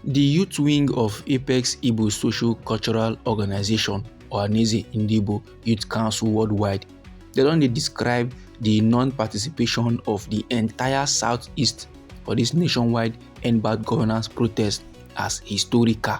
The youth wing of Apex Igbo Social Cultural Organization, Ohaneze Ndibo Youth Council Worldwide, they don dey describe the non-participation of the entire Southeast for this nationwide End Bad Governance protest as historical.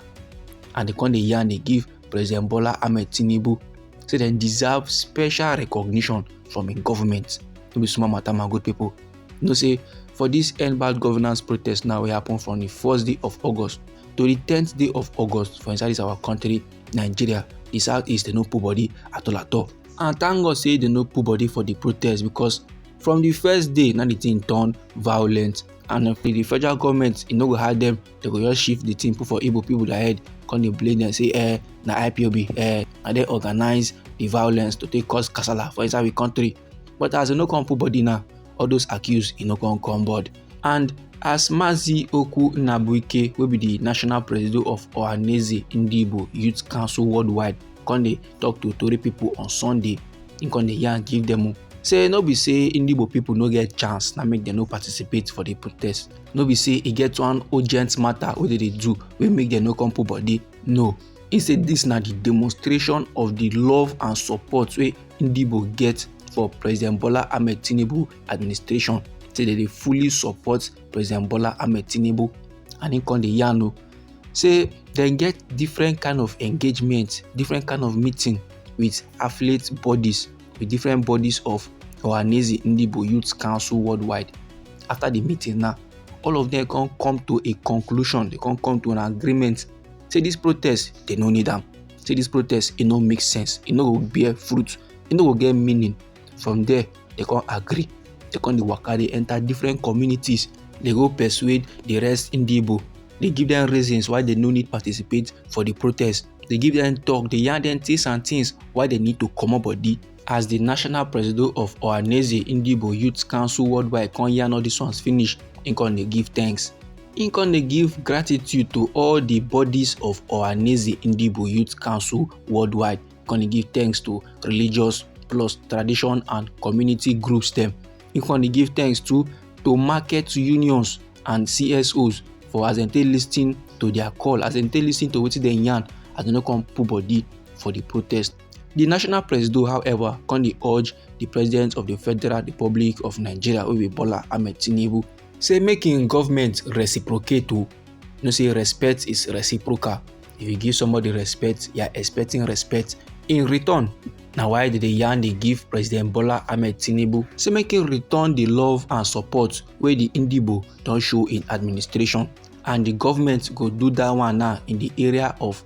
And they come dey yarn dey give President Bola Ahmed Tinubu say dem deserve special recognition from im government. No be small matter, my good people. you know say for this end bad governance protest now wey happen from the first day of august to the tenth day of august for inside this our country nigeria the southeast dey no put body at all at all and thank god say they no put body for the protest because from the first day na the thing turn violent and if the federal government e no go hide them they go just shift the thing put for igbo people their head come dey blame them say eh na ipob eh na dem organize the violence to take cause kasala for inside the country but as e no come put body now all those accused e no come come board and as mazi oku nnabuike wey be di national president of ohaneze ndigbo youth council worldwide come dey tok to tori pipo on sunday im come dey yarn give dem say no be say ndigbo pipo no get chance na make dem no participate for di protest no be say e get one urgent matter wey dem dey do wey make dem no come put body no He say dis na di demonstration of di love and support wey Ndigbo get for President Bola Ahmed Tinubu administration say dem dey fully support President Bola Ahmed Tinubu and im come dey yarn o say dem get different kind of engagement different kind of meeting with affiliate bodies with different bodies of Ohaneze Ndigbo Youth Council worldwide after the meeting now all of them come come to a conclusion they come come to an agreement say this protest they no need them. say this protest it no make sense It no go bear fruit It no go get meaning from there they can't agree they can't dey waka dey enter different communities They go persuade the rest in Igbo They give them reasons why they no need participate for the protest They give them talk They yarn them things and things why they need to comot body as di national presido of ohaneze ndigbo youth council worldwide come yarn all dis ones finish im come dey give thanks im come dey give gratitude to all di bodies of ohaneze ndigbo youth council worldwide come dey give thanks to religious plus tradition and community groups dem im come dey give thanks to to market unions and csos for as dem take lis ten to their call as dem take lis ten to wetin dem yarn as dem no come put body for di protest. di national presido however come dey urge di president of di federal republic of nigeria wey be bola ahmed tinubu say make im government reciprocate o no say respect is reciprocal if you give somebody respect you are expecting respect in return na why dem dey yarn dey give president bola ahmed tinubu say make im return di love and support wey di indibo don show im administration and di government go do dat one now in di area of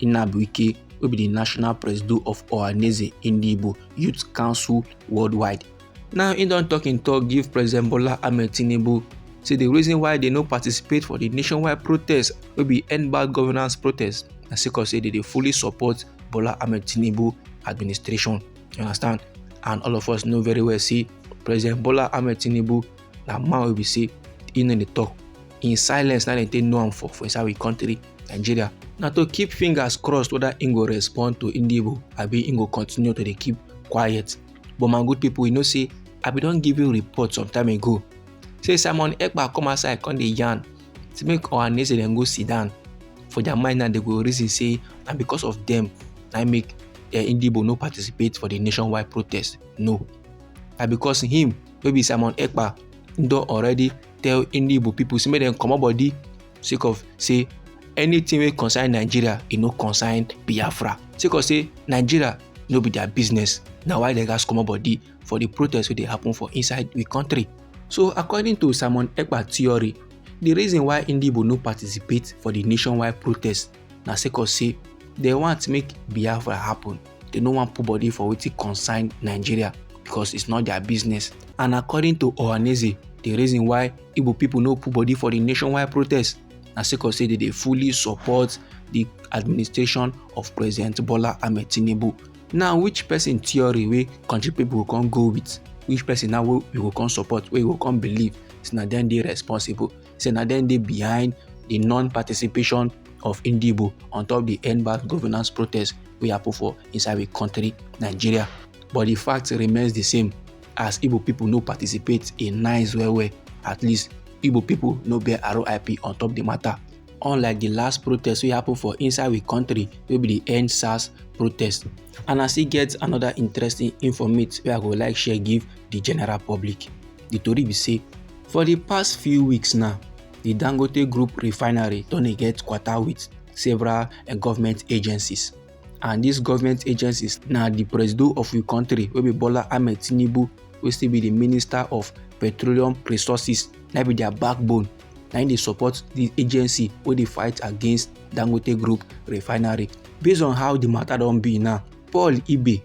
Inabuike wey be di national presido of Ohaneze Ndigbo Youth Council worldwide. Now im don tok im tok give President Bola Ahmed Tinubu say di reason why dem no participate for di nationwide protest wey be end bad governance protest na sake of say dem dey fully support Bola Ahmed Tinubu administration. You understand? And all of us know very well say President Bola Ahmed Tinubu na man wey be say e no dey talk in silence na dem take know am for for inside we country nigeria na to keep fingers crossed whether im go respond to indibo abi im go continue to dey keep quiet but my good people you know say i bin don give you report some time ago say simon ekpa come outside come dey yarn say make ohaneze dem go sit down for their mind now they go reason say na because of them na make uh, indibo no participate for the nationwide protest no na because him wey be simon ekpa don already tell Indian igbo pipo say make dem comot body sake of say anything wey concern nigeria e no concern biafra sake of say nigeria no be their business na why dem gats comot body for the protest wey dey happen for inside we country so according to simon ekpa theory the reason why Indian igbo no participate for the nationwide protest na sake of say dem want make biafra happen dem no wan put body for wetin concern nigeria because it's not their business and according to ohaneze the reason why igbo people no put body for the nationwide protest na sake of say dem dey fully support the administration of president bola ahmed tinubu now which person theory wey country people go come go with which person now wey we go come support wey we go come believe say na dem dey responsible say na dem dey behind di non-participation of Indibo on top di end bad governance protest wey happen for inside we country Nigeria. But di fact remains di same as Igbo pipo no participate e nice well well at least Igbo pipo no bear RIP on top di matter. Unlike di last protest wey happen for inside we country wey be di end SARS protest and I still get another interesting informate wey I go like share give di general public. di tori be say for di past few weeks now di dangote group refinery don dey get kwata wit several eh, government agencies and dis government agencies na di presido of di country wey be bola ahmed tinubu wey still be di minister of petroleum resources na be dia backbone na im dey support di agency wey dey fight against dangote group refinery based on how di matter don be now paul ibe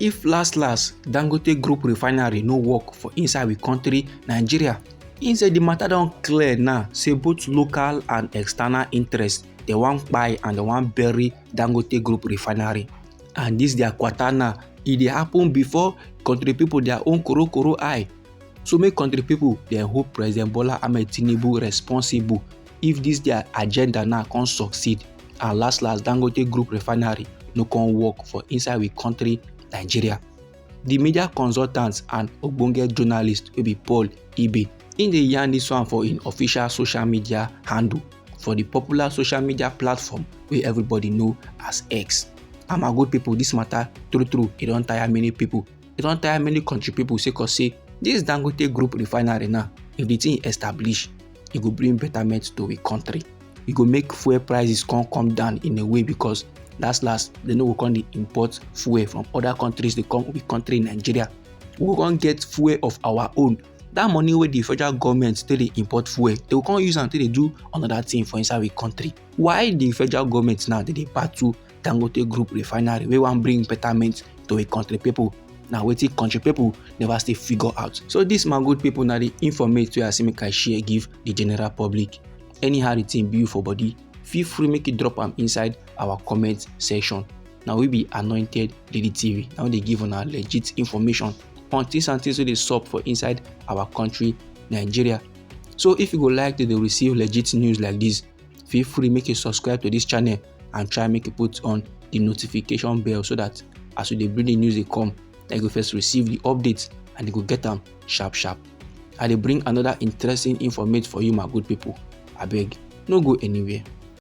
if last last dangote group refinery no work for inside we country nigeria he say the matter don clear now say both local and external interests they wan buy and they wan bury dangote group refinery and this their quarter now e dey happen before country people their own koro koro eye so make country people dey hold president bola ahmed tinubu responsible if this their agenda now come succeed and last last dangote group refinery no come work for inside we country nigeria the media consultants and ogbonge journalist will be paul ibe In the yarn this one for in official social media handle for the popular social media platform where everybody know as x I'm a good people. This matter true true It don't tire many people. It don't tire many country people. say cause say dis dangote group refinery now if the thing establish e go bring betterment to we country e go make fuel prices come come down in a way because last last they no go come dey import fuel from other countries dey come we country nigeria we go come get fuel of our own that money wey the federal government take dey import fuel they go come use am take dey do another thing for inside we country why the federal government now dey dey battle dangote group refinery wey wan bring betterment to a country pipo na wetin country pipo never still figure out so dis my good pipo na di informate wey i say make i share give di general public anyhow di thing be you for body feel free make you drop am inside our comment section na we be anointed lady tv na we dey give una legit information on things and things wey dey sup for inside our country nigeria so if you go like to dey receive legit news like dis feel free make you subscribe to dis channel and try make you put on the notification bell so that as you dey bring the news dey come na you go first receive the updates and you go get am sharp sharp i dey bring another interesting informate for you my good people abeg no go anywhere.